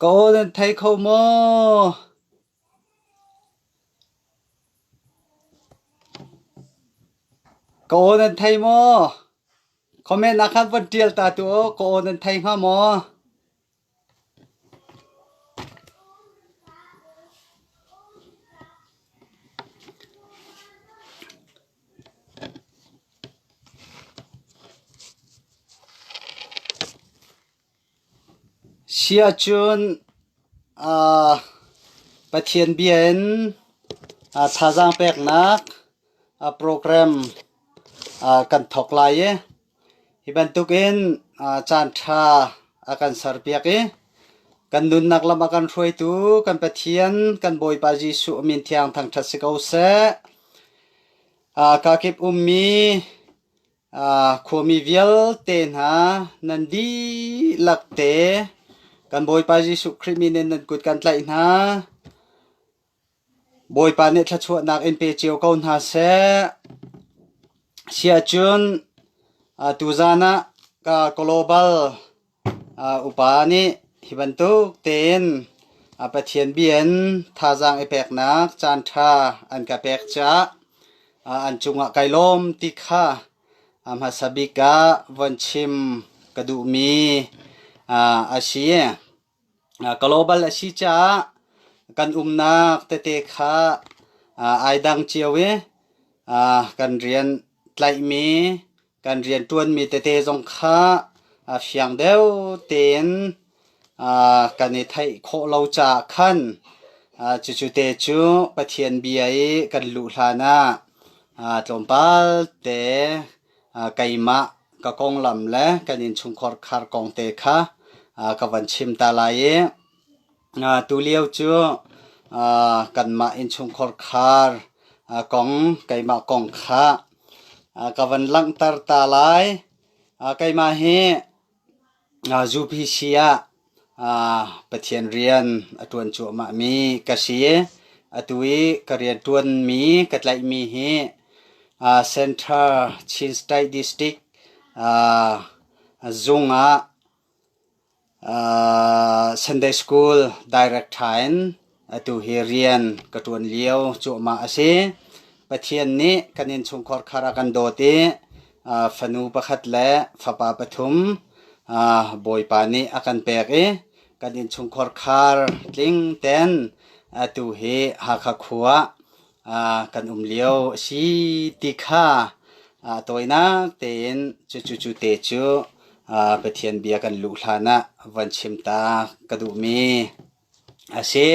Ka aw nan thei kho maw? Comment ah khan von ṭial ta tu u, ka aw nan thei hnga maw? Hi ahcun Pathian bia in thazaang peknak program kan thawk lai i Hi bantukin caanṭha a kan serpiak i kan nunnak lam a kan hruaitu kan Pathian kan Bawipa Jesuh a min thiang thangṭhat si ko seh. Kakip ummi khuami vialte hna nan dihlak te kan Bawipa Jesuh Khrih min in nan kut kan tlaih hna. Bawipa nih thluachuahnak in pe cio ko hna seh. Siahcun tuzan ah Global upa nih hi bantuk tein Pathian bia in thazaang i peknak caanṭha an ka pek caah an cungah kai lawm ti kha hmasa bik ah von chim ka duhmi a si. Global a si caah kan umnak tete kha ai dang cio i kan rian tlaihmi, kan rianṭuanmi tete zong kha fiang deuh tein kan i theih khawh lo caah khan cucu te cu Pathian bia i kan luh hlanah tlawmpal te keimah ka konglam le kan innchungkhar khar kong te kha ka van chim ta lai i tulio cu kanmah innchungkhar khar kong keimah kong kha ka van langhter ta lai. Keimah hi Zupi si ah Pathian rian a ṭuan cuahmahmi ka si i atu i ka rianṭuanmi ka tlaihmi hi Central Chin State District zung ah Sunday School Director in Atu hi rian ka ṭuan lio cuahmah a si. Pathian nih kan innchungkhar khar ah kan dawt i ah, fanu pakhat le fapa pathum ah, Bawipa nih a kan pek i kan innchungkhar khar tling ten atu hi Hakha khua ah kan um lio a si ti kha ah tawinak tein cucu cu te cu ah, Pathian bia kan luh hlan ah van chim ta ka duhmi. a si.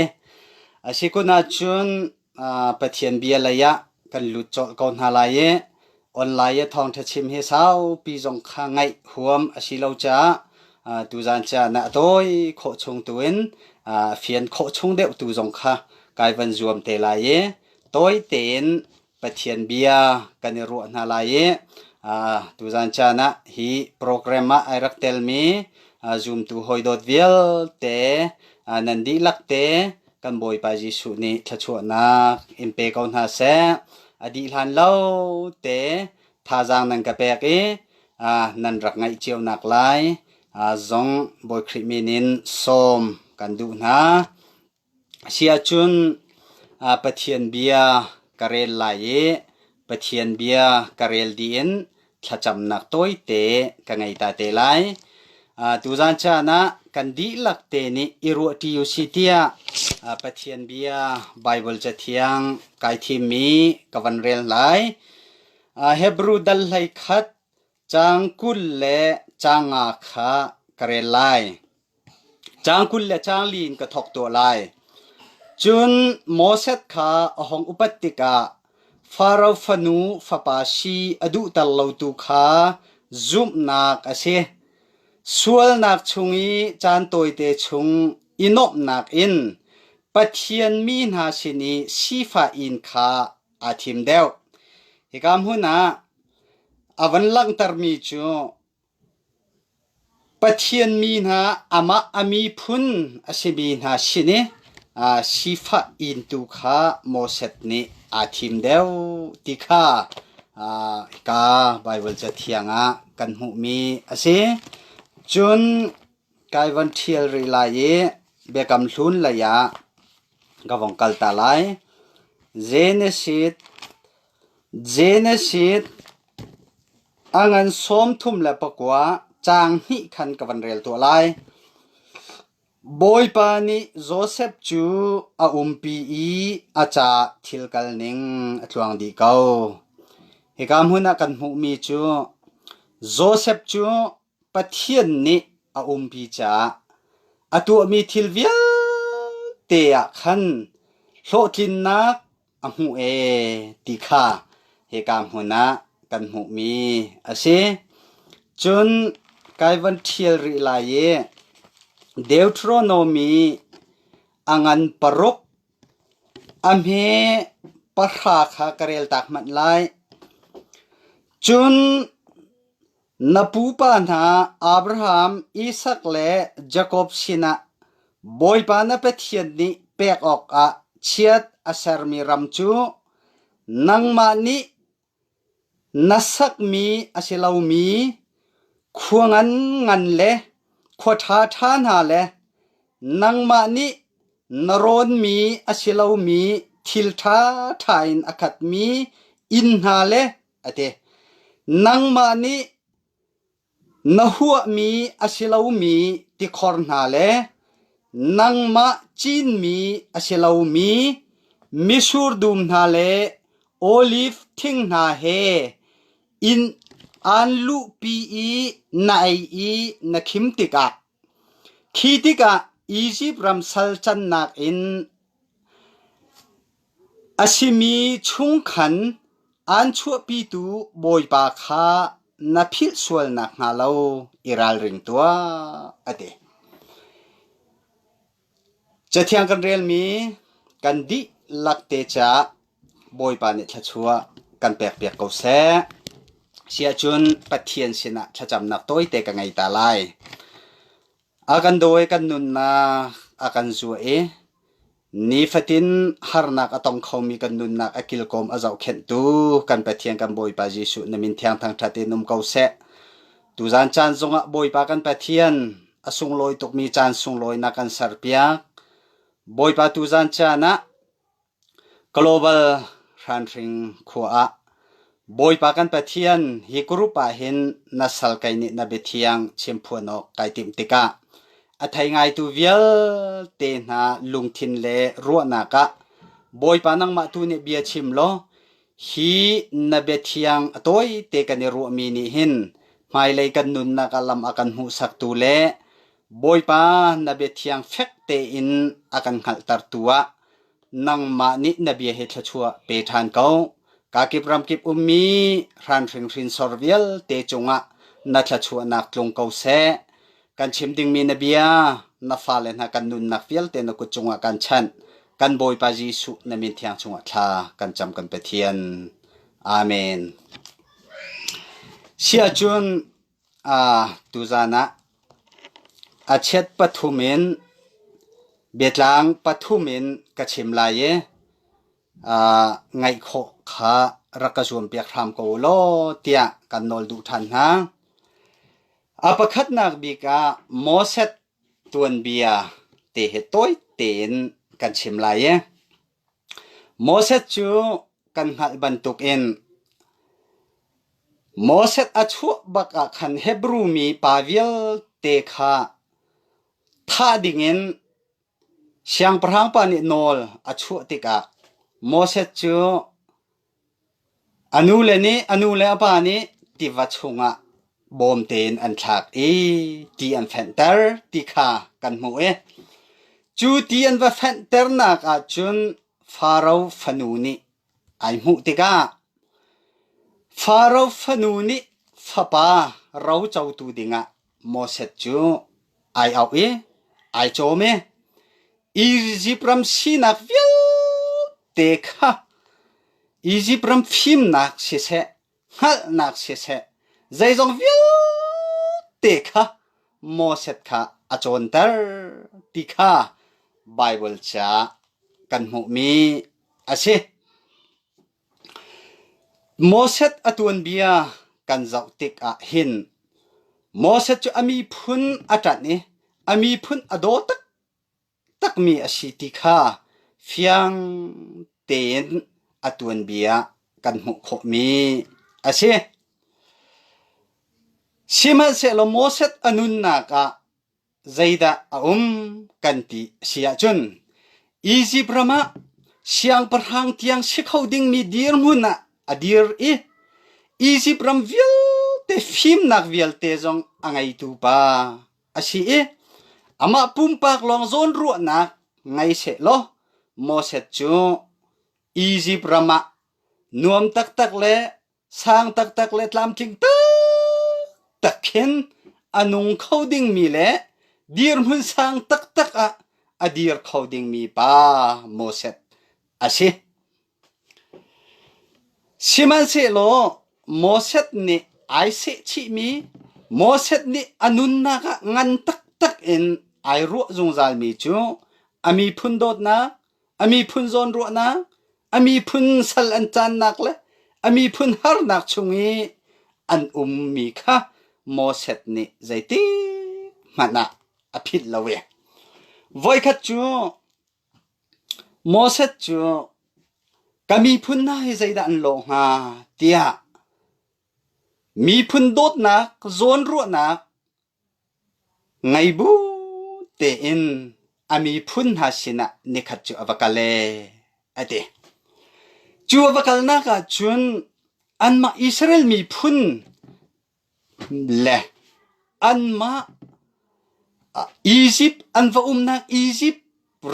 A si kun ahcun Pathian bia lei ah kan lut colh ko hna lai i online i thawngṭha chim hi saupi zong kha ngaih huam a si lo caah tuzan ca na a tawi khawh chung tu in a fian khawh chung deuh tu zong kha kai van zuam te lai i tawi tein Pathian bia kan i ruah hna lai i tuzan caan ah hi program ah ai rak telmi zumtu hawidawt vialte nan dihlak te kan Bawipa Jesuh nih thluachuahnak in pe ko hna seh. A dih hlan lo te thazaang nan ka pek i nan rak ngaih cionak lai zong Bawi Khrih min in sawm kan duh hna. A si ahcun Pathian bia ka rel lai i Pathian bia ka rel dih in thlacamnak tawite ka ngei ta te lai. Tuzaan caan ah kan dihlak te nih i ruahṭi u sih tiah Pathian bia Baibal Cathiang kai thimmi ka van rel lai. Hebru dal hlei khat Caang kul le caang nga kha ka rel lai. Caang kul le caang li in ka thawk tuah lai. Cun Moses kha a hung upat tikah Faro fanu fapa si a duhter lotu kha zumhnak a si. Sualnak chung i caan tawite chung i nuamhnak in Pathian mi hna sin i sifah in kha aa thim deuh. Hika hmun ah a van langhtermi cu Pathian mi hna amah a miphun a simi hna sin i aa sifah in tu kha Moses nih aa thim deuh ti kha aa hika Baibal cathiang ah kan hmuhmi a si. Cun Kai van ṭhial rih lai i Biakam Hlun lei ah ka vong kal ta lai. Genesis Genesis A ngan sawm thum le pakua caang hnih khan ka van rel tuah lai. Bawipa nih Josef cu a umpi i a caah thil kal ning a tluang dih ko. Hika hmun ah kan hmuhmi cu Josef cu Pathian nih a umpi caah a tuahmi thil vialte ah khan hlawhtlinnak a hmuh ee ti kha hika hmun ah kan hmuhmi a si. Cun kai van ṭhial rih lai i Deuteronomy a ngan paruk a hme pahra kha ka reltak hmanh lai. Cun Na pupa hna Abraham, Isak le Jakob sinah Bawipa na Pathian nih pek awkah chiat a sermi ram cu nangmah nih na sakmi a si lomi khua nganngan le khua ṭhaṭha hna le nangmah nih na rawnmi a si lomi thil ṭhaṭha in a khatmi inn hna le a ti. Nangmah nih na huahmi a si lomi tikhor hna le nangmah cinmi a si lomi mitsur dum hna le oliv thing hna he inn aan luhpi i na ei i na khim tikah, khi tikah Izipt ram sal cannak in A simi chungkhan aan chuahpitu Bawipa kha na philh sual nakhnga lo i ralring tuah, a ti. Cathiang kan relmi kan dihlak te caah Bawipa nih thluachuah kan pekpiak ko seh. Siahcun Pathian sinah thlacamnak tawite ka ngei ta lai. A kan daw i kan nunnak a kan zuah i nifatin harnak a tong khomi kan nunnak a kilkawm a zohkhenhtu kan Pathian kan Bawipa Jesuh na min thiang thangṭhat in um ko seh. Tuzan caan zongah Bawipa kan Pathian a sunglawi tukmi caan sunglawi na kan serpiak. Bawipa tuzan caan ah Global hranhring khua ah Bawipa kan Pathian hi group ahhin na sal kei nih na biathiang chimphuan awk kai timh tikah a thei ngaitu vialte hna lungthin le ruahnak ah Bawipa nangmah tu nih bia chim law hi na biathiang a tawite kan i ruahmi nih hin hmailei kan nunnak ah lam a kan hmuhsaktu le Bawipa na biathiang fek tein a kan hngalhtertu ah nangmah nih na bia hi thluachuah pe ṭhan ko. Ka kip ramkip ummi ran hringhrin sor vialte cungah na thluachuahnak tlung ko seh. Kan chim dingmi na bia na fale hna kan nunnak vialte na kut cungah kan chanh. Kan Bawipa Jesuh na min thiang chungah thla kan cam kan Pathian. Amen. Siahcun Tuzaan ah a chiat pathum in biatlang pathum in ka chim lai i ngaih khawh kha rak ka zuampiak hram ko u law tiah kan nawl duh ṭhan hna. A pakhatnak bik ah Moses tuanbia te hi tawi tein kan chim lai i Moses cu kan hngalh bantukin Moses a chuah bak ah khan Hebru mi pa vialte kha thah dingin siangpahrang pa nih nawl a chuah tikah Moses cu A nule nih a nu le a pa nih tiva chungah bawm tein an thlak i ti an fenhter ti kha kan hmuh i cu ti an va fenhternak ahcun Faro fanu nih ai hmuh tikah Faro fanu nih fapa rocotu dingah Moses cu ai auh i ai cawm i Izipt ram sinak vialte kha Izipt ram fimnak siseh, hngalhnak siseh, zeizong vialte kha Moses kha a cawnter ti kha Baibal chia kan hmuhmi a si. Moses a tuanbia kan zoh tikah hin Moses cu a miphun a ṭanh i a miphun a daw taktakmi a si ti kha fiang tein a tuanbia kan hmuh khawhmi a si. Sihmanhsehlaw Moses a nunnak ah Zeidah a um kan ti a si ahcun Izipt ram ah siangpahrang tiang si kho dingmi dirhmun ah a dir i Izipt ram vialte fimnak vialte zong a ngeitu pa a si i amah pumpak lawng zawn ruahnak ngei seh law Moses cu Izipt ram ah nuam taktak le Sang taktak le tlamtling taktak khin a nung kho dingmi le dirhmun sang taktak ah a dir kho dingmi pa Moses a si. Sihmanhsehlaw Moses nih ai sehchihmi, Moses nih a nunnak ah ngan taktak in ai ruah zungzalmi cu a miphun dawtnak, a miphun zawnruahnak, a miphun sal an caannak le a miphun harnak chung i an ummi kha Moses nih zeitik hmanh ah a philh lo i voikhat cu Moses cu ka miphun hna hi zeidah an law hnga tiah miphun dawtnak, zawnruahnak, Ngei bu tein a miphun hna sinah nikhat cu a va kal ee, a ti. Cu a va kalnak ahcun anmah Israel miphun le anmah Izipt an va umnak Izipt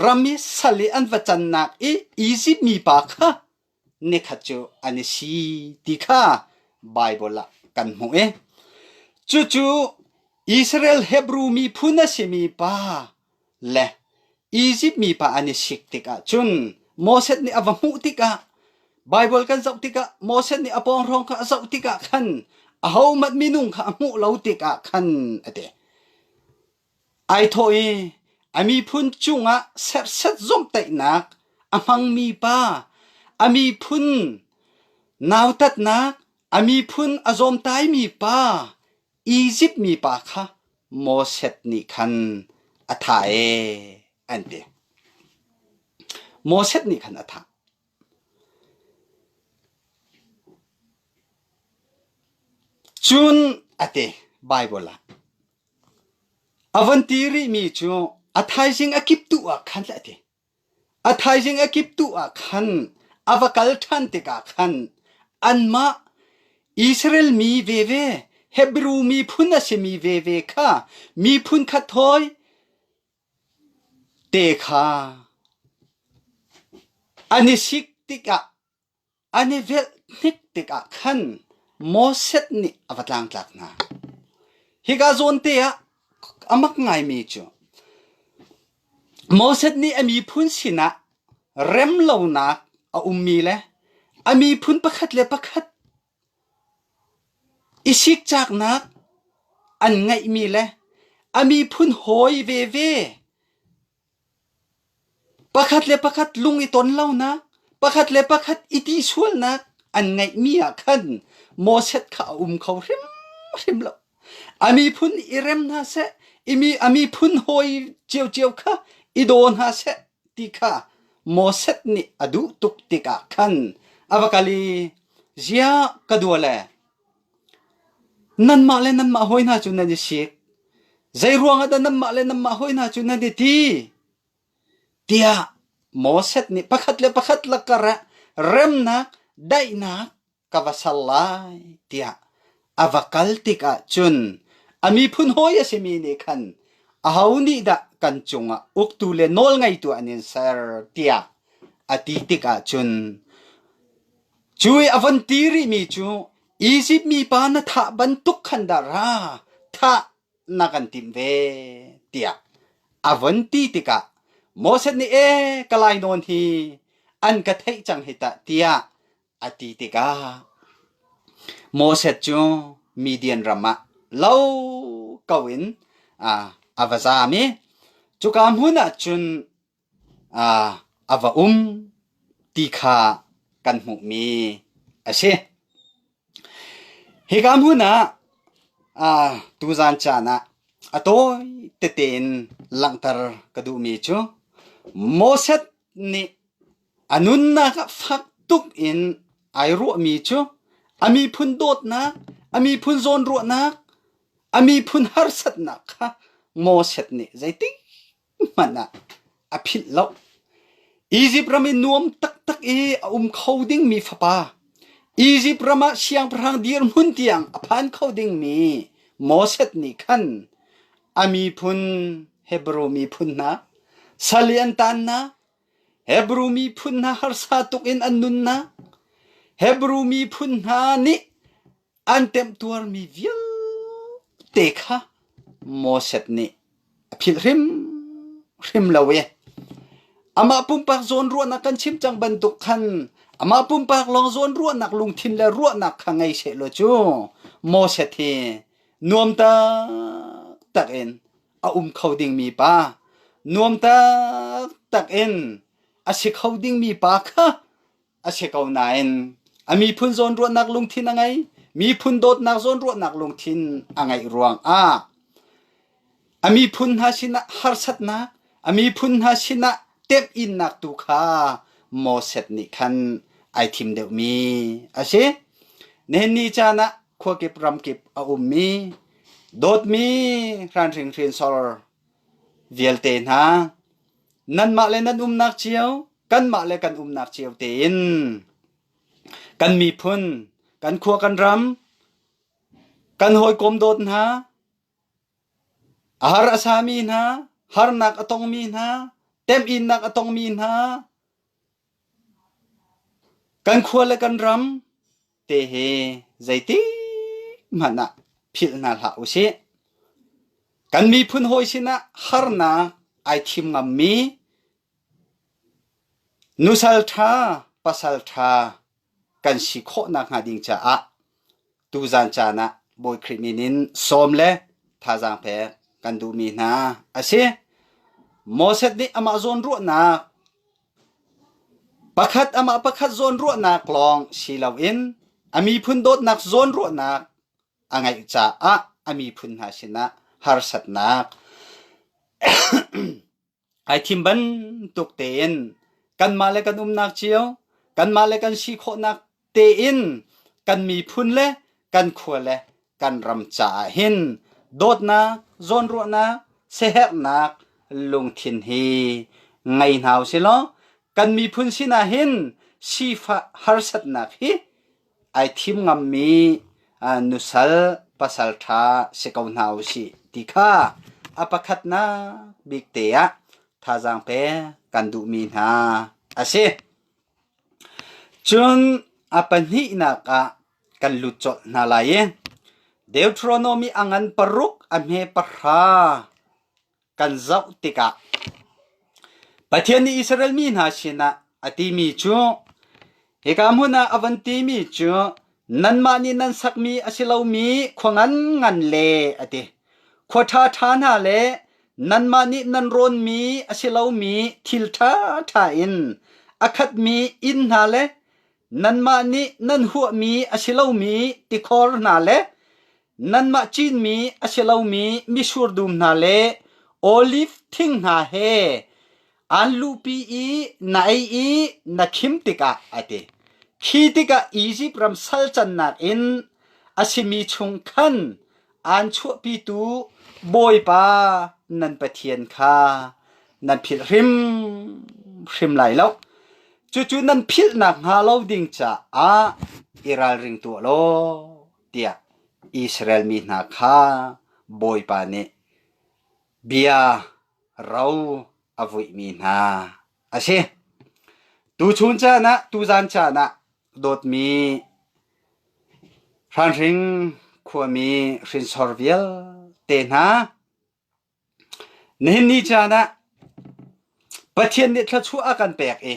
ram i sal i an va cannak i Izipt mipa kha nekhat cu an i si ti kha Baibal ah kan hmuh i cucu Israel Hebru miphun a simi pa le Izipt mipa an i sik tikah cun Moses nih a va hmuh tikah Baibal kan zoh tikah Moses nih a pawnghrong kha a zoh tikah khan ahohmanh minung kha a hmuh lo tikah khan a ti. Ai thawh i, “A miphun cungah serset zomhtaihnak a hmangmi pa, a miphun nautatnak, a miphun a zawmtaimi pa, Izipt mipa kha Moses nih khan a thah ee,” an ti. Moses nih khan a thah. Cun a ti Baibal ah. A von ti rihmi cu a thaizing a kip tuh ah khan a ti. A thaizing a kip tuh ah khan a va kal ṭhan tikah khan anmah Israel mi veve, Hebru miphun a simi veve kha miphun khat hawi te kha an i sik tikah An i velhnik tikah khan Moses nih a va tlangtlak hna. Hika zawnte ah a mak ngaimi cu Moses nih a miphun sinah rem lonak a ummi le a miphun pakhat le pakhat i sikcaknak an ngeihmi le a miphun hawi veve Pakhat le pakhat lung i ton lonak, pakhat le pakhat i ti sualnak an ngeihmi ah khan Moses kha a um kho hrimhrim lo. A miphun i rem hna seh, i mi a miphun hawi ciocio kha i daw hna seh ti kha Moses nih a duh tuk tikah khan a va kal i, “Ziah ka dua le?” Nanmah le nanmah hawi hna cu nan i sik. Zeiruang ah dah nanmah le nanmah hawi hna cu nan i ti? tiah Moses nih pakhat le pakhat lakar ah remnak daihnak ka va ser lai tiah a va kal tikah cun a miphun hawi a simi nih khan aho nih dah kan cungah uktu le nawlngeitu an in ser tiah a ti tikah cun Cu i a von ti rihmi cu Izipt mipa na thah bantuk khan dah ra thah na kan timh ve? tiah a von ti tikah Moses nih ee ka lainawn hi an ka theih cang hi tah tiah a ti tikah Moses cu Midian ram ah lo ko in a va zam i cuka hmun ah cun a va um ti kha kan hmuhmi a si. Hika hmun ah tuzaan caan ah a tawi tete in langhter ka duhmi cu Moses nih a nunnak ah fak tuk in ai ruahmi cu a miphun dawtnak, a miphun zawnruahnak, a miphun harsatnak kha Moses nih zeitik hmanh ah a philh lo. Izipt ram i nuam taktak i a um kho dingmi fapa, Izipt ram ah siangpahrang dirhmun tiang a phan kho dingmi Moses nih khan a miphun Hebrew miphun hna sal i an tan hna, Hebrew miphun hna harsa tuk in an nun hna, Hebrew miphun hna nih an temtuarmi vialte kha Moses nih a philh hrimhrim lo i amah pumpak zawn ruahnak kan chim cang bantuk khan amah pumpak lawng zawn ruahnak lungthin le ruahnak kha ngei sehlaw cu Moses hi nuam taktak in a um kho dingmi pa nuam taktak in a si kho dingmi pa kha a si ko nain a miphun zawnruahnak lungthin a ngei miphun dawtnak zawnruahnak lungthin a ngeih ruangah a miphun hna sinah harsatnak a miphun hna sinah temh innak tu kha Moses nih khan ai thim deuhmi a si nenni caan ah khua kip ram kip a ummi dawtmi hran hringhren sor vialte hna nanmah le nan umnak cio kanmah le kan umnak cio tein kan miphun kan khua kan ram kan hawikom dawt hna a har a sami hna harnak a tongmi hna temhinnak a tongmi hna kan khua le kan ram te he zeitik hmanh ah philh hna hlah u sih kan miphun hawi sinah harnak ai thim ngammi Nusal ṭha pasal ṭha kan si khawh nakhnga ding caah tuzan caan ah Bawi Khrih min in sawm le thazaang pek kan duhmi hna a si. Moses nih amah zawnruahnak pakhat amah pakhat zawnruahnak lawng si loin a miphun dawtnak zawnruahnak a ngeih caah a miphun hna sinah harsatnak Ai thim bantuk tein kanmah le kan umnak cio kanmah le kan si khawhnak tein kan miphun le kan khua le kan ram caah hin dawtnak, zawnruahnak, siaherhnak lungthin hi ngei hna u silaw kan miphun sinah hin sifah harsatnak hi ai thim ngammi nusal pasalṭha si ko hna u sih ti kha a pakhatnak bik te ah thazaang pek kan duhmi hna a si. Cun a pahnihnak ah kan lut colh hna lai i Deuteronomy angan paruk a hme pahra kan zoh tikah Pathian nih Israel mi hna sinah a timi cu hika hmun ah a van timi cu nanmah nih nan sakmi a si lomi khua nganngan le a ti khua ṭha ṭha hna le nanmah nih nan rawnmi a si lomi thil ṭha ṭha in a khatmi inn hna le nanmah nih nan huahmi a si lomi tikhor hna le Nanmah cinmi a si lomi mitsur dum hna le olif thing hna he aan luhpi i na ei i na khim tikah a ti. Khi tikah Izipt ram salcannak in a simi chung khan aan chuahpitu Bawipa nan Pathian kha nan philh hrimhrim lai lo. Cucu nan philh nakhnga lo ding caah i ralring tuah law, tiah Israel mi hna kha Bawipa nih bia ro a vuihmi hna a si. Tu chun caan ah, tu zan caan ah dawtmi hranhring khuami hrinsor vialte hna, Nihin ni caan ah Pathian nih thluachuah a kan pek i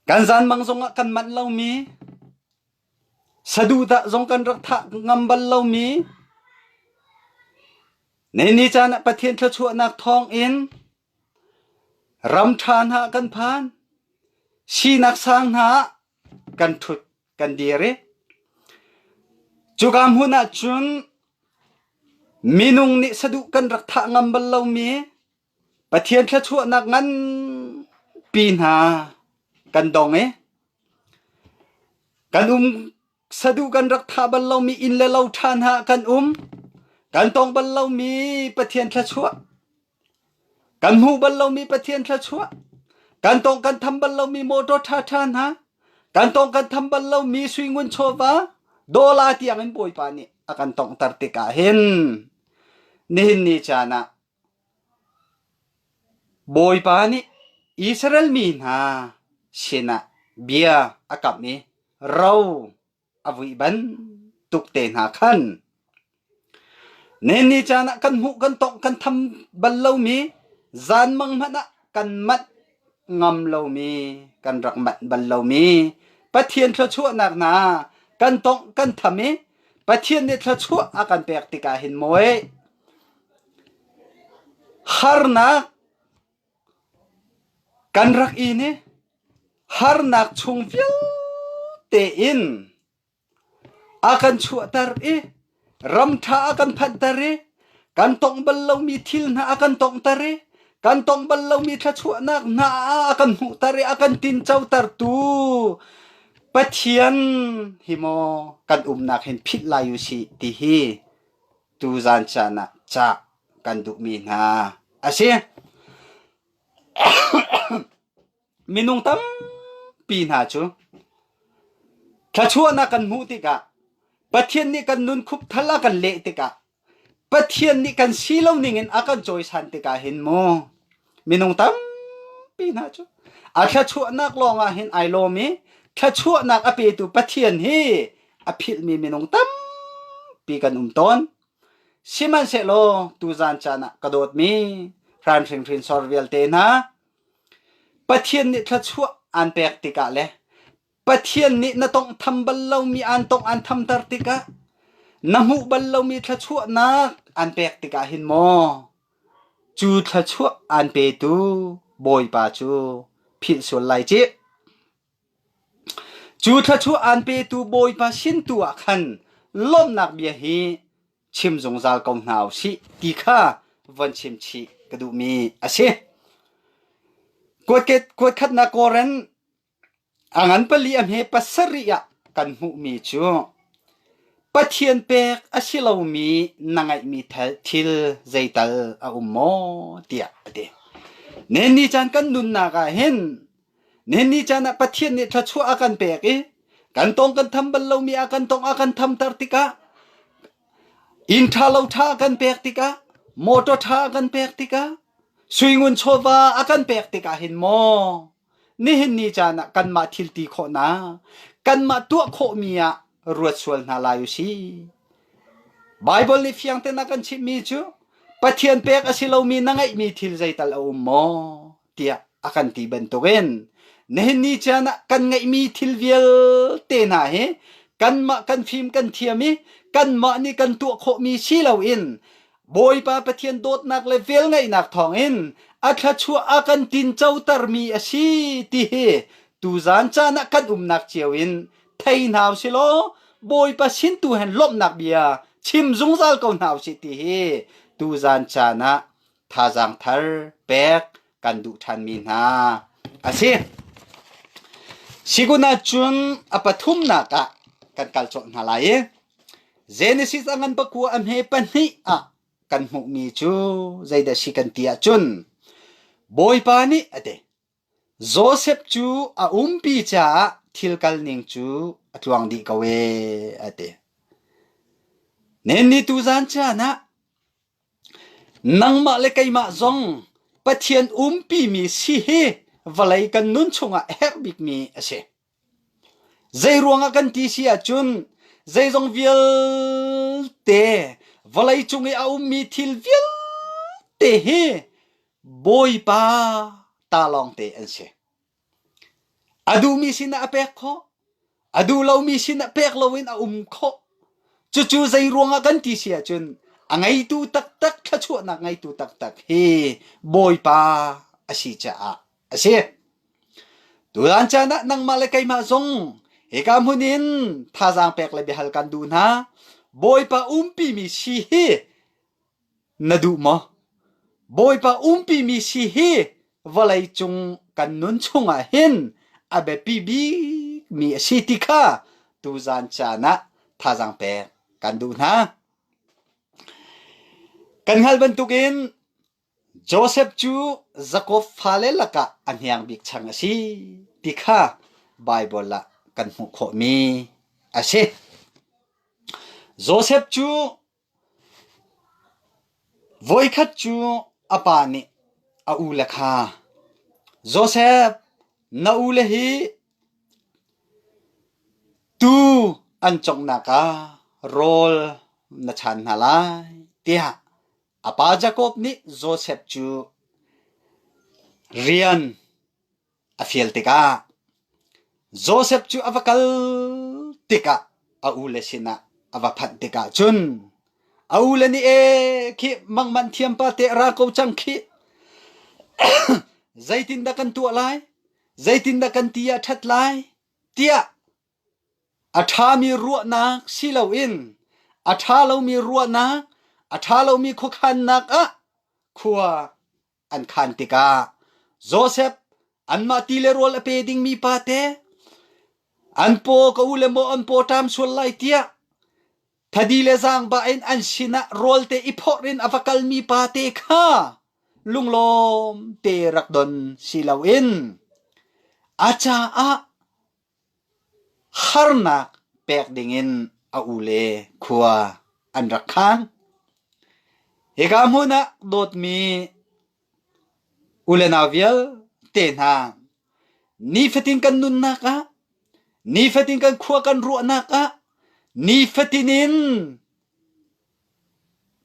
kan zanmang zongah kan manh lomi, saduhdah zong kan rak thah ngam bal lomi, nihin ni caan ah Pathian thluachuahnak thawng in ram ṭha hna kan phan, sinak sang hna ah kan ṭhut. kan dir i cuka hmun ah cun minung nih saduh kan rak thah ngam bal lomi Pathian thluachuahnak ngan pi hna kan dong i kan um saduh kan rak thah bal lomi inn le lo ṭha hna kan um kan tong bal lomi Pathian thluachuah Kan hmuh bal lomi Pathian thluachuah, kan tawng kan tham bal lomi mawṭaw ṭhaṭha hna, kan tawng kan tham bal lomi suingun chawva, dawla tiangin Bawipa nih a kan tonghter tikah hin nihin ni caan ah Bawipa nih Israel mi hna sinah bia a kam i, Ro! a vui bantuk te hna khan nenni caan ah kan hmuh kan tongh kan tham bal lomi zanmang hmanh ah kan manh ngam lomi kan rak manh bal lomi Pathian thluachuahnak hna kan tongh kan tham i Pathian nih thluachuah a kan pek tikah hin moe harnak Kan rak inn i harnak chung vialte in a kan chuahter i ramṭha a kan phanhter i kan tong bal lomi thil hna a kan tonghter i kan tong bal lomi thluachuahnak hna a kan hmuhter i a kan tincotertu Pathian hi maw kan umnak hin philh lai u sih ti hi tuzan caan ah cah kan duhmi hna a si. Minung tampi hna cu thluachuahnak kan hmuh tikah Pathian nih kan nun khup thal a kan leh tikah Pathian nih kan si lo ning in a kan cawisan tikah hin mu Minung tampi hna cu a thluachuahnak lawngah hin ai lawm i thluachuahnak a petu Pathian hi a philhmi minung tampi kan um tawn. Sihmanhsehlaw tuzan caan ah ka dawtmi ran hringhrin sor vialte hna Pathian nih thluachuah aan pek tikah le Pathian nih na tawnghtham bal lomi aan tawngh aan thamter tikah na hmuh bal lomi thluachuahnak aan pek tikah hin maw cu thluachuah aan petu Bawipa cu philh sual lai cih. Cu thluachuah aan petu Bawipa sin tu ah khan lawmnak bia hi chim zungzal ko hna u sih ti kha von chim chih ka duhmi a si. Kuat, kuat khatnak Korin A ngan pali a hme pasarih ah kan hmuhmi cu Pathian pek a si lomi na ngeihmi thil zeital a um maw tiah a ti. Nenni caan kan nunnak ah hin nenni caan ah Pathian nih thluachuah a kan pek i kan tong kan tham bal lomi a kan tong a kan thamter tikah inn ṭha lo ṭha a kan pek tikah motor ṭha a kan pek tikah suingun chawva a kan pek tikah hin maw Nihin ni caan ah kanmah thilti khawhnak, kanmah tuah khawhmi ah ruat sual hna lai u si. Baibal nih fiang tein a kan chimhmi cu Pathian pek a si lomi na ngeihmi thil zeital a um maw? tiah a kan ti bantukin nihin ni caan ah kan ngeihmi thil vialte hna hi kanmah kan fim kan thiam i kanmah nih kan tuah khawhmi si loin Bawipa Pathian dawtnak le velngeihnak thawngin a thluachuah a kan tincotermi a si ti hi tuzan caan ah kan umnak cio in thei hna u si law Bawipa sin tu hen lawmhnak bia chim zungzal ko hna u sih ti hi tuzan caan ah thazaang thar pek kan duh ṭhanmi hna a si. Sigun ah cun a pathumnak ah kan kal cawlh hna lai i Genesis a ngan pakua a hme pahnih ah kan hmuhmi cu zeidah a si kan ti ahcun Bawipa nih a ti. Josef cu a umpi caah thil kalning cu a tluang dih ko e, a ti. Nenni tu zan caan ah nangmah le keimah zong Pathian umpimi si hi vawlei kan nun chungah a herh bikmi a si. Zeiruang ah kan ti si ahcun zeizong vialte vawlei cung i a ummi thil vialte hi Bawipa ta lawngte an si. A duhmi sinah a pek khawh, a duh lomi sinah pek loin a um khawh. Cucu zeiruang ah kan ti si ahcun a ngeitu taktak thluachuahnak ngeitu taktak hi Bawipa a si caah a si. Tutan caan ah nangmah le keimah zong hika hmun in thazaang pek le biahal kan duh hna. Bawipa umpi mi si hi na duh maw? Bawipa umpi mi si hi vawlei cung kan nun chungah hin a biapi bik mi a si ti kha tuzan caan ah thazaang pek kan duh hna. Kan hngalh bantukin Josef cu Jakob fale lakah a hniang bik chang a si ti kha Baibal ah kan hmuh khawhmi a si. Josef cu voikhat cu a pa nih a ule kha, “Josef, na ule hi tuu an conghnak ah rawl na chan hna lai,” tiah A pa Jakob nih Josef cu rian a fial tikah Josef cu a va kal tikah a ule sinah a va phanh tikah cun a ule nih e khi mangman thiam pa te ra ko cang khi zeitindah kan tuah lai zeitindah kan ti ah ṭhat lai tiah A ṭhami ruahnak si loin a ṭha lomi ruahnak, a ṭha lomi khuakhannak ah khua an khan tikah Josef anmah ti le rawl a pe ding mipate, an paw ka u le maw an pawṭam sual lai tiah thadi le zaangba in an sinah rawlte i phawrh in a va kal mipate kha lunglawm te rak don si loin a caah Harnak pek dingin a u le khua an rak khaan. Hika hmun ah dawtmi u le nau vialte hna, nifatin kan nunnak ah, nifatin kan khua kan ruahnak ah, nifatin in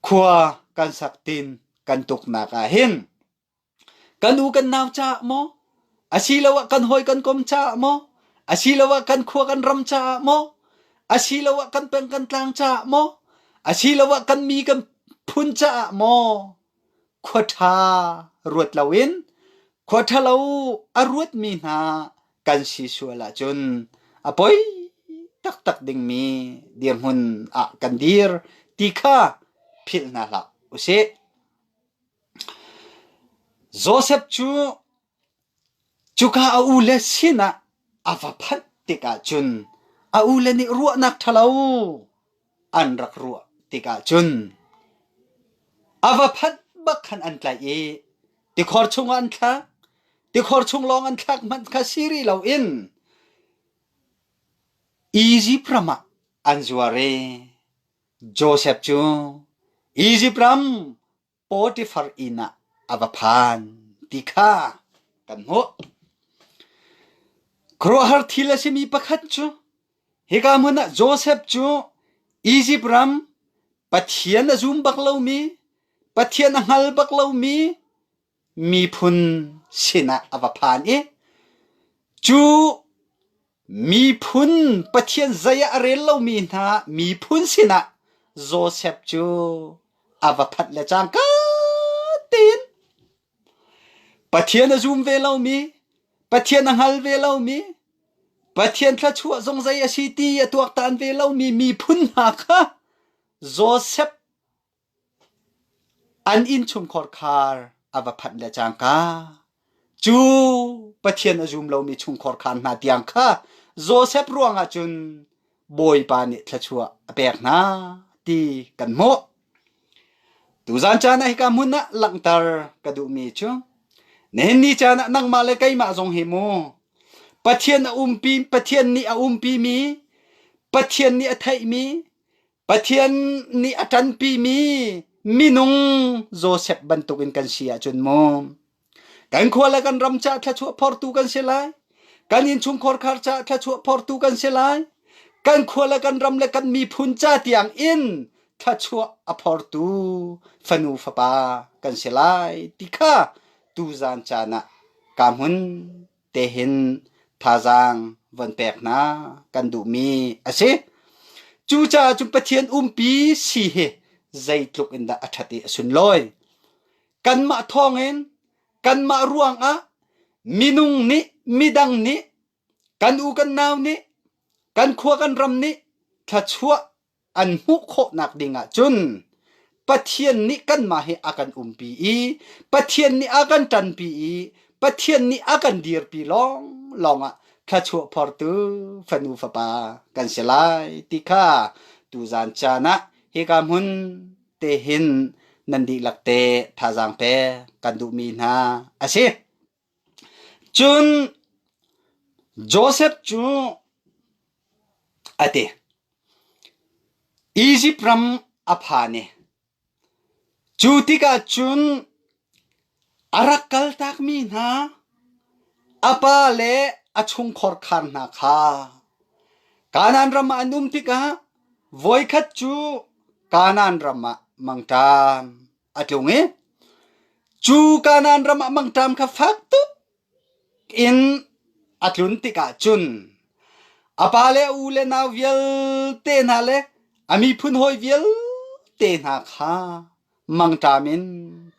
khua kan sak tin kan tuknak ah hin Kan u kan nau caah maw, asiloah kan hawi kan kom caah maw, asiloah kan khua kan ram caah maw, asiloah kan peng kan tlang caah maw, asiloah kan mi kan phun caah maw, khua ṭha ruat loin khua ṭhalo a ruatmi hna kan si sual ahcun a poi taktak dingmi dirhmun ah kan dir ti kha philh hna hlah usih. Josef cu cuka a ule sinah a va phanh tikah cun a ule nih ruahnak ṭhalo an rak ruah tikah cun a va phanh bak khan an tlaih i tikhor chungah an thlak. Tikhor chung lawng an thlak hmanh kha si rih loin Izipt ram ah an zuar i Josef cu Izipt ram Potifar inn ah a va phan ti kha kan hmuh. Khuaruahhar thil a simi pakhat cu hika hmun ah Josef cu Izipt ram, Pathian a zum bak lomi, Pathian a hngal bak lomi, miphun sinah a va phan i cu miphun pathian zei ah a rel lomi hna miphun sinah Josef cu a va phanh le cangka tein Pathian a zum ve lomi Pathian a hngal ve lomi Pathian thluachuah zong zei a si ti a tuaktan ve lomi miphun hna kha Josef An innchungkhar khar a va phanh le cangka, cu Pathian a zum lomi chungkhar khar hna tiang kha Josef ruangah cun Bawipa nih thluachuah a pek hna ti kan hmuh. Tuzan caan ah hika hmun ah langhter ka duhmi cu nihin ni caan ah nangmah le keimah zong hi mu Pathian a umpi Pathian nih a umpimi Pathian nih a theihmi Pathian nih a ṭanpimi minung Josef bantukin kan si ahcun maw kan khua le kan ram caah thluachuah phortu kan si lai kan innchungkhar khar caah thluachuah phortu kan si lai kan khua le kan ram le kan miphun ca tiang in thluachuah a phortu fanu fapa kan si lai ti kha tuzan caan ah ka hmun tehin thazaang von pek hna kan duhmi a si. Cu caah cun Pathian umpi si hi zeitluk in dah a ṭhat i a sunlawi. Kanmah thawngin kanmah ruangah minung nih midang nih kan u kan nau nih kan khua kan ram nih thluachuah an hmuh khawhnak ding ah cun Pathian nih kanmah hi a kan umpi i Pathian nih a kan ṭanpi i Pathian nih a kan dirpi lawng lawng ah thluachuah phortu fanu fapa kan si lai ti kha tu zan caan ah hika hmun te hin nan dihlak te thazaang pek kan duhmi hna a si. Cun Josef cu a ti, Izipt ram a phan i cu tikah cun a rak kaltakmi hna a pa le a chungkhar khar hna kha Kanaan ram ah an um tikah voikhat cu Kanaan ram ah mang ṭan. a tlung i cu Kanan ram ah mangṭam kha fak tuk in a tlun tikah cun a pa le a u le nau vialte hna le a miphun hawi vialte hna kha mangṭam in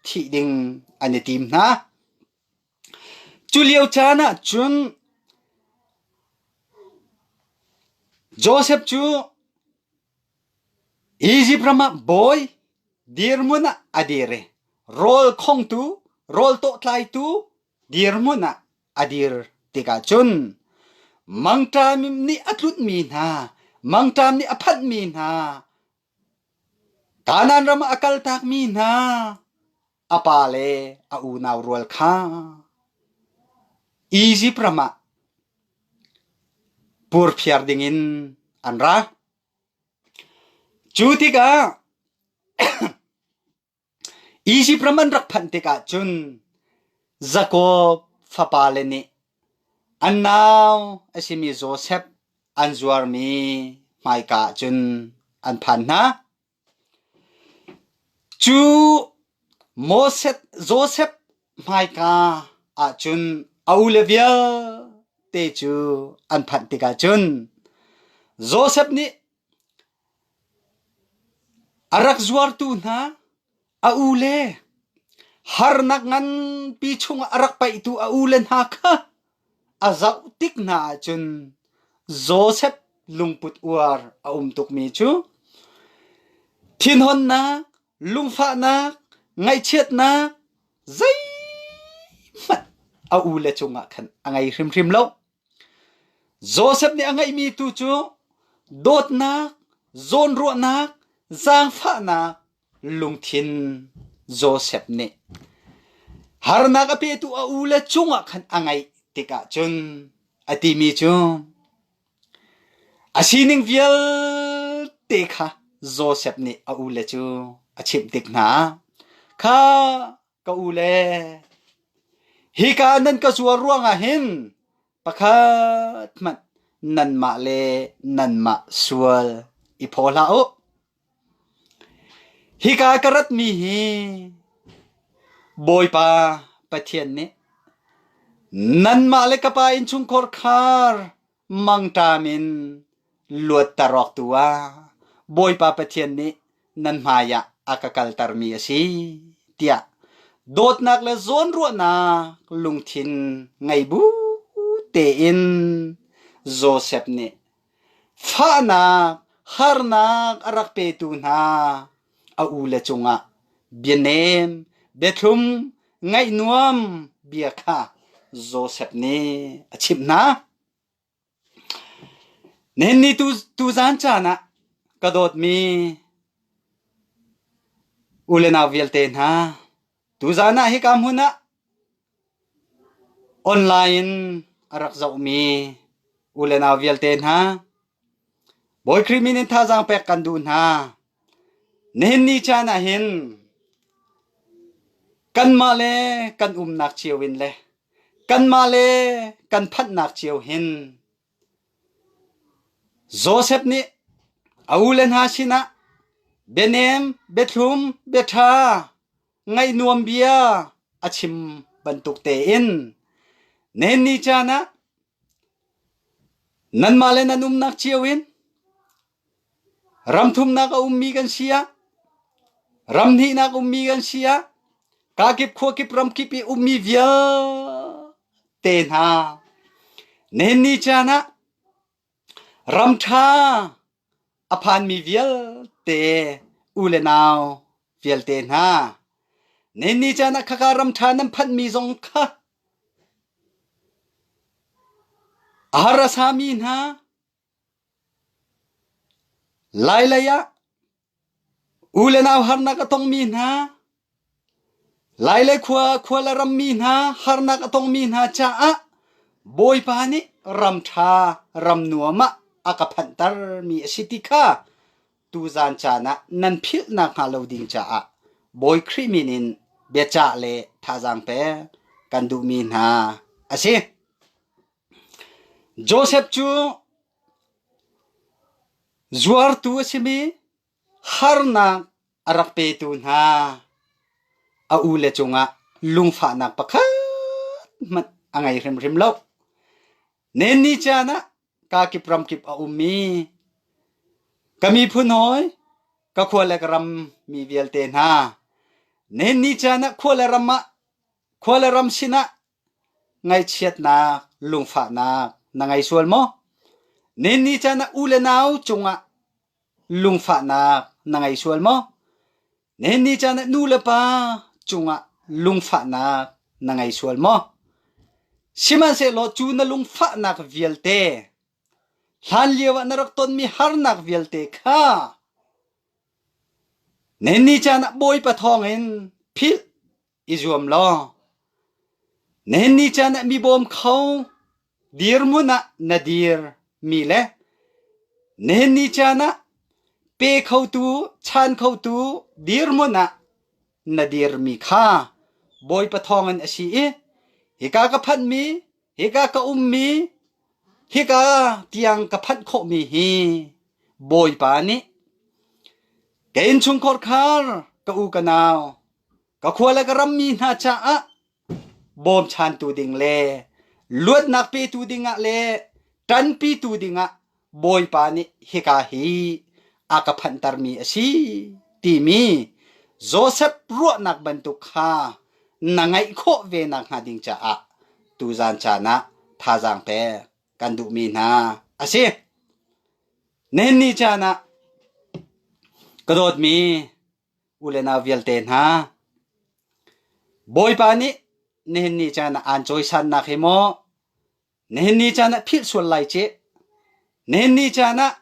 thih ding an i tim hna. Culio caan ahcun Josef cu Izipt ram ah bawi, dirhmun ah a dir i rawl khongtu, rawl tawhtlaitu dirhmun ah a dir tikah cun mangṭam nih a tlunhmi hna, mangṭam nih a phanhmi hna, Kanaan ram ah a kaltakmi hna, a pa le a unau rual kha Izipt ram ah purphiar dingin an ra. Cu tikah Izipt ram an rak phanh tikah cun Jakob fapale nih an nau a simi Josef an zuarmi hmaika ah cun an phan hna. Cu Josef hmaika ahcun a ule vialte cu an phanh tikah cun Josef nih a rak zuartu hna A ule harnak nganpi chungah a rak paihtu a ule hna kha a zoh tik hna ahcun Josef lungput uar a um tukmi cu thinhunnak, lungfahnak, ngaihchiatnak zeihmanh a ule cungah khan a ngei hrimhrim lo. Josef nih a ngeihmi tu cu dawtnak, zawnruahnak, zaangfahnak, Lungthin Josef nih harnak a petu a u le cungah khan a ngeih tikah cun a timi cu a sining vialte kha Josef nih a u le cu a chimh tik hna. Kha ka u le hika nan ka zuar ruangah hin pakhat hmanh nanmah le nanmah sual i phaw hlah u. Hika ka ratmi hi Bawipa Pathian nih nanmah le ka pa innchungkhar khar mangṭam in luatter awk tu ah Bawipa Pathian nih nan hmai ah a ka kaltermi a si tiah dawtnak le zawnruahnak lungthin ngei bu tein Josef nih Fahnak harnak a rak petu hna a u le cungah bianem, biathlum, ngaih nuam bia kha Josef nih a chimh hna. Nihin tu, tuzan caan ah ka dawtmi u le nau vialte hna, Tuzaan ah hika hmun ah online in a rak zohmi u le nau vialte hna, Bawi Khrih min in thazaang pek kan duh hna. Nihin ni caan ah hin kanmah le kan umnak cio in le kanmah le kan phanhnak cio hin Josef nih a ule hna sinah bianem, biathlum, biaṭha, ngaihnuam bia a chim bantuk tein nannih caan ah nanmah le nan umnak cio in Ram thumnak a ummi kan si ah, ram hnihnak ummi kan si ah, kakip, khuakip, ramkip i ummi vialte hna nihin ni caan ah ram ṭha a phanmi vialte u le nau vialte hna nihin ni caan ah khaka ram ṭha nan phanhmi zong kha a harasami hna Lailei ah u le nau harnak a tongmi hna, Lailei khua khua le rammi hna harnak a tongmi hna caah Bawipa nih ram ṭha ram nuam ah a ka phanhtermi a si ti kha tuzan caan ah nan philh nakhnga lo ding caah Bawi Khrih min in biacah le thazaang pek kan duhmi hna a si. Josef cu zuartu a simi harnak a rak petu hna a u le cungah lungfahnak pakhat hmanh a ngei hrimhrim lo. Nenni caan ah kaa kip ramkip a ummi ka miphun hawi, ka khua le ka ram mi vialte hna, Nenni caan ah khua le ram ah khua le ram sinah Ngaihchiatnak, lungfahnak na ngei sual maw? Ninni caan ah u le nau cungah lungfahnak na ngei sual maw? Ninni caan ah nu le pa cungah lungfahnak na ngei sual maw? Sihmanhsehlaw cu na lungfahnak vialte, hlanlio ah na rak tonmi harnak vialte kha ninni caan ah Bawipa thawngin philh. i zuam law nenni caan ah mi bawm kho dirhmun ah na dir mi le nenni caan ah pe khotu chan khotu dirhmun ah na dir mi kha Bawipa thawngin a si i hika ka phanh mi hika ka um mi hika tiang ka phanh khawh mi hi Bawipa nih ka innchungkhar khar ka u ka nau Ka khua le ka rammi hna caah bawmchantu ding le luatnak petu dingah le ṭanpitu dingah Bawipa nih hika hi a ka phanhtermi a si timi Josef ruahnak bantuk kha na ngeih khawh ve nakhnga ding caah tuzaan caan ah thazaang pek kan duhmi hna a si. Nihin ni caan ah ka dawtmi U le nau vialte hna, Bawipa nih nihin ni caan ah aan cawisannak hi maw nihin ni caan ah philh sual lai cih. Nihin ni caan ah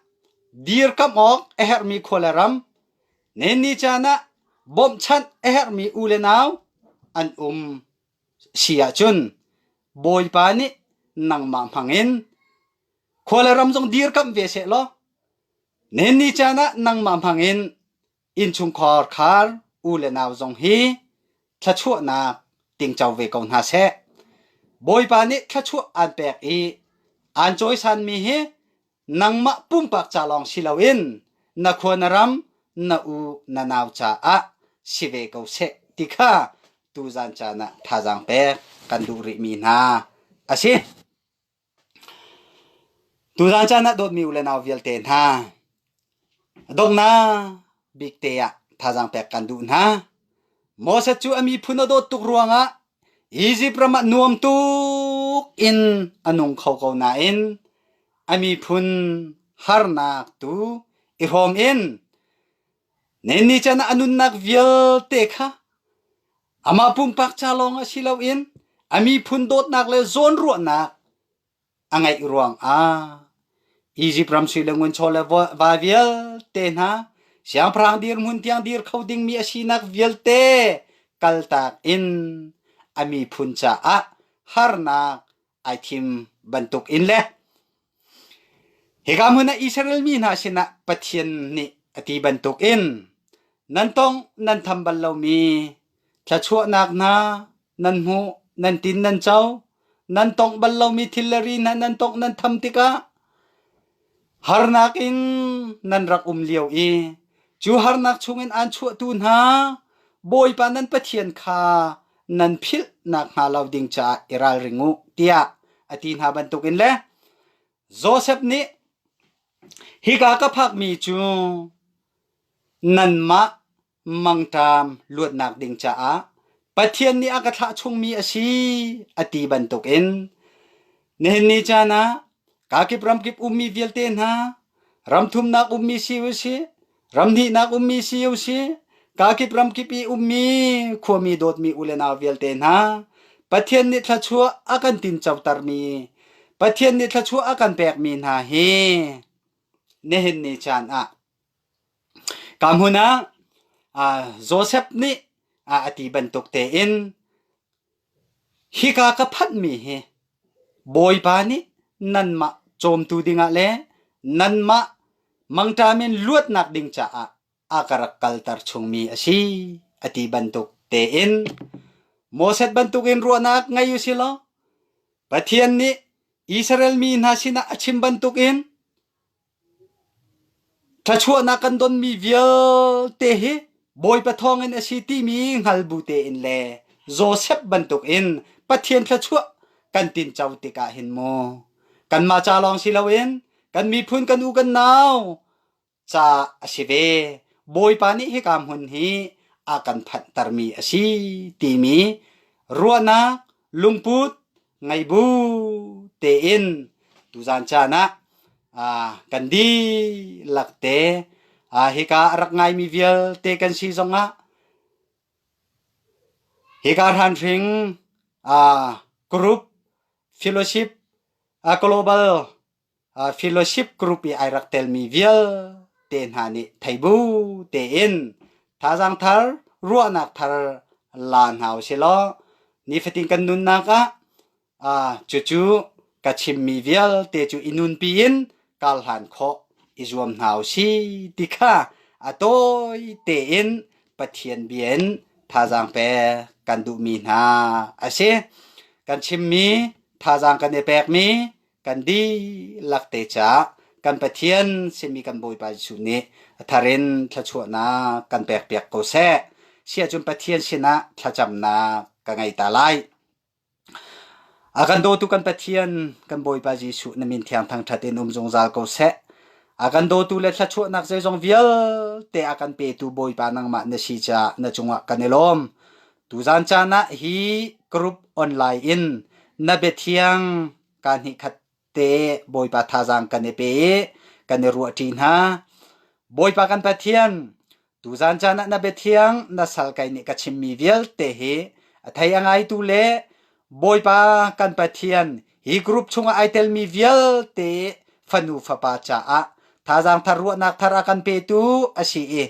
dirkamh awk a herhmi khua le ram, nihin ni caan ah bawmhchanh a herhmi u le nau an um si ahcun Bawipa nih nangmah hmangin khua le ram zong dirkamh ve seh law Nannih caan ah nangmah hmangin innchungkhar khar u le nau zong hi thluachuahnak tingco ve ko hna seh. Bawipa nih thluachuah aan pek i aan cawisanmi hi nangmah pumpak ca lawng si loin na khua na ram, na u na nau caah si ve ko seh ti kha tuzan caan ah thazaang pek kan duh rihmi hna a si. Tuzaan caan ah dawtmi u le nau vialte hna, donghnak bik te ah thazaang pek kan duh hna. Moses cu a miphun a dawt tuk ruangah Izipt ram ah nuam tuk in a nung kho ko nain a miphun harnak tu i hrawm in Nannih chan ah a nunnak vialte kha amah pumpak ca lawng ah si loin a miphun dawtnak le zawnruahnak a ngeih ruangah Izipt ram sui le ngunchaw le va vialte hna siangpahrang dirhmun tiang dir kho dingmi a sinak vialte kaltak in a miphun caah harnak ai thim bantukin le Hika hmun ah Israel mi hna sinah Pathian nih a ti bantukin nan tawng nan tham bal lomi thluachuahnak hna nan hmuh, nan tin nan co, nan tawngh bal lomi thilri hna nan tawngh nan tham tikah harnak in nan rak um lio i cu harnak chungin aan chuahtu hna Bawipa nan Pathian kha nan philh nak hnga lo ding caah i ralring u tiah a ti hna bantukin le Josef nih hika ka phakmi cu nanmah mangṭam luatnak ding caah Pathian nih a ka thlah chungmi a si a ti bantukin nihin ni caan ah kakip ramkip ummi vialte hna ram thumnak ummi si u sih Ramhnihnak ummi si usi, kakip ramkip i ummi khuami dawtmi u le nau vialte hna, Pathian nih thluachuah a kan tincotermi, Pathian nih thluachuah a kan pekmi hna hi nihin ni caan ah ka hmun ah Josef nih a ti bantuk tein Hika ka phanhmi hi Bawipa nih nanmah cawmtu dingah le nanmah mangṭa men luatnak ding caah a ka rak kalter chungmi a si, a ti bantuk tein Moses bantukin ruahnak ngei u silaw Pathian nih Israel mi hna sinah a chim bantukin Ṭhachuahnak kan donmi vialte hi Bawipa thawngin a si timi hngal bu tein le Josef bantukin Pathian thluachuah kan tinco tikah hin mu kanmah ca lawng si loin kan miphun kan u kan nau ca a si ve. Bawipa nih hika hmun hi a kan phanhtermi a si timi ruahnak lungput ngei bu tein tuzan chan ah kan di lak te hika rak ngaimi vialte kan si zongah hika ran hring group fellowship global Fellowship group i ai rak telmi vialte hna nih thei bu tein thazaang thar, ruahnak thar la hna u silaw nifatin kan nunnak ah cucu ka chimmi vialte cu i nunpi in kar hlan khawh i zuam hna u si ti kha a tawite in Pathian bia in thazaang pek kan duhmi hna a si. Kan chimmi thazaang kan i pekmi kan dihlak te ca kan Pathian simi kan Bawipa Jesuh nih a thar in thluachuahnak kan pekpiak ko seh. Siahcun Pathian sinah thlacamnak ka ngei ta lai. A kan dawtu kan Pathian kan Bawipa Jesuh na min thiang thangthat in um zungzal ko seh. A kan dawtu le thluachuahnak zeizong vialte a kan petu Bawipa nangmah na si ca na cungah kan i lawm. Tuzan caan ah hi group online in na biathiang ka hnih khat te Bawipa thazaang kan i pe i kan i ruah ṭi hna. Bawipa kan Pathian, tuzan caan ah na biathiang na sal kai nih ka chimmi vialte hi a thei a ngaitu le Bawipa kan Pathian, hi group chungah ai telmi vialte fanu fapa caah thazaang thar ruahnak thar a kan petu a si i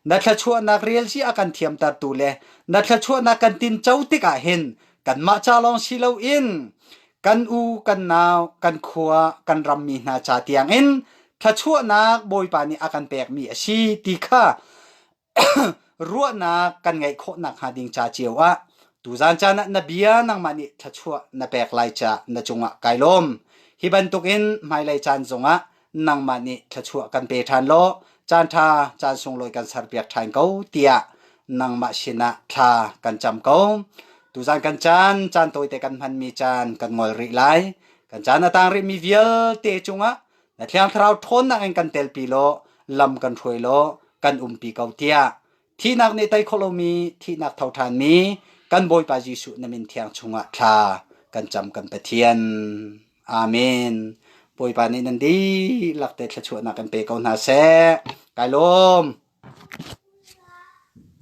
na thluachuahnak relci a kan thiamtertu le na thluachuahnak kan tinco tikah hin kanmah ca lawng si loin kan u, kan nau, kan khua, kan rammi hna ca tiangin thluachuahnak Bawipa nih a kan pekmi a si ti kha ruahnak kan ngeih khawh nakhnga ding ca cio ah tuzaan caan ah na bia nangmah nih thluachuah na pek lai ca na cungah kai lawm. Hi bantukin hmailei caan zongah nangmah nih thluachuah kan pe ṭhan law caan ṭha caan sunglawi kan serpiak ṭhan ko tiah nangmah sinah thla kan cam ko. Tuzaan kan caan caan tawite kan hmanmi caan kan ngol rih lai. Kan caan a tang rihmi vialte cungah na thiang thlarau ṭhawnnak in kan telpi law lam kan hruai law kan umpi ko tiah thihnak nih tei khawh lomi thihnak tho ṭhanmi kan Bawipa Jesuh na min thiang chungah thla kan cam kan Pathian Amen Bawipa nih nan dihlak te thluachuahnak kan pe ko hna seh kai lawm